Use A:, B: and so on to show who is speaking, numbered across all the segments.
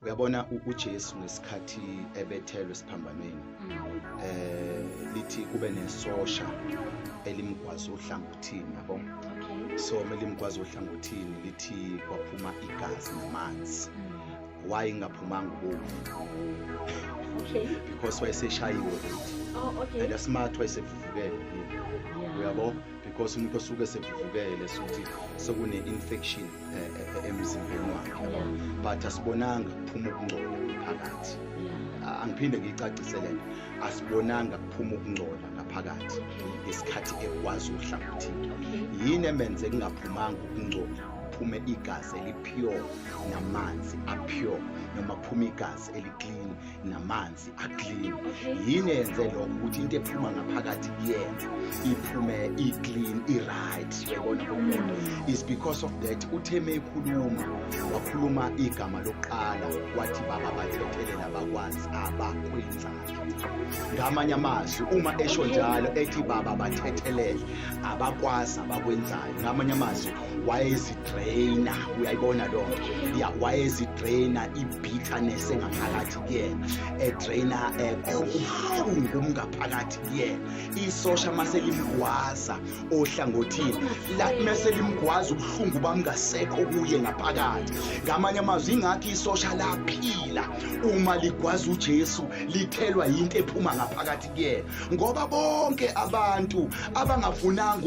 A: uyabona uJesu ngesikhathi ebethelwe esiphambanweni eh lithi kube nesosha elimgwaza ohlangothini yabo so melimgwaza ohlangothini lithi kwaphuma igazi namanzi mm. why ingaphumanga ubovu okay because wayeseshayiwe oh okay and smart wayesevuvukele uyabo because umuntu osuke esevuvukele sokuthi sekune-infection eh, eh, emzimbeni wakhe but asibonanga kuphuma ukungcola ngaphakathi angiphinde ngiyicacise le nto asibonanga kuphuma ukungcola ngaphakathi ngesikhathi ekwazi uhlangothini yini emenze kungaphumanga ukungcola kuphume igazi elipure namanzi apure noma kuphume igazi eliklini namanzi aklini yini yenze lokho ukuthi into ephuma ngaphakathi kuyena iphume iclean iright yabona umuntu is because of that utheme ekhuluma wakhuluma igama lokuqala wathi baba bathethelela bakwazi abakwenzayo ngamanye amazwi uma esho njalo ethi baba bathethelele abakwazi abakwenzayo ngamanye amazwi wayezidraina uyayibona lonto ya wayezidraina ibitterness engaphakathi kuyena edraina ubuhlungu umngaphakathi kuyena isosha mase limgwaza ohlangothini lathi mese limgwaza ubuhlungu bamngasekho kuye ngaphakathi ngamanye amazwi ingathi isosha laphila uma ligwaza uJesu lithelwa yinto ephuma ngaphakathi kuyena ngoba bonke abantu abangafunanga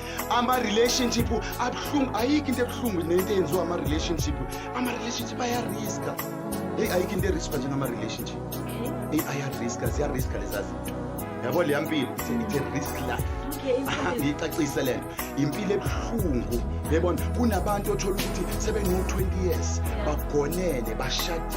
A: ama-relationship abuhlungu ayikho into ebuhlungu nento eyenziwa ama-relationship ama-relationship ayariska eyi ayikho into eriska njengama-relationship eyi ayariska ziyariska lezazinto yabo leya mpilo it's a risk life ngiyicacise le nto yimpilo ebuhlungu yebona kunabantu othola ukuthi sebeno-20 years bagonene bashadile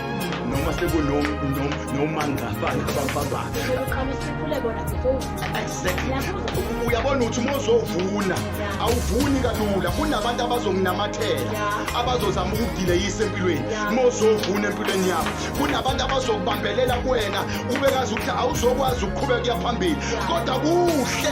A: noma sekunonongafana abababa uyabona ukuthi uma uzovuna awuvuni kalula kunabantu abazonginamathela abazozama ukudileyisa empilweni uma uzovuna empilweni yabo kunabantu abazokubambelela kuwena ubekazi ukuthi awuzokwazi ukuqhubeka kuya phambili kodwa kuhle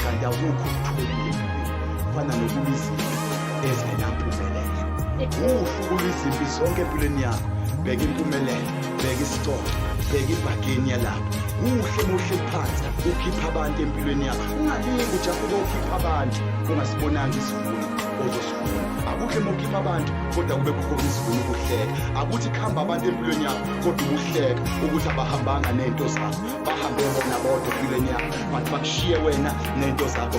A: kanti awukho ukuthulela kufana nokuba izinto ezingenampumelelo usuku lwizimpi zonke empilweni yakho bheka impumelelo bheka isicoco bheka ibhageni yalapho kuhle muhle phansi ukhipha abantu empilweni yakho ungalingi ujafuke ukhipha abantu ungasibonanga isivuno ozosivuna akuhle mokhipha abantu kodwa kube khona isivuno ukuhleka akuthi kuhamba abantu empilweni yakho kodwa ukuhleka ukuthi abahambanga nento zakho bahambe bona bodwa empilweni yakho but bakushiye wena nento zakho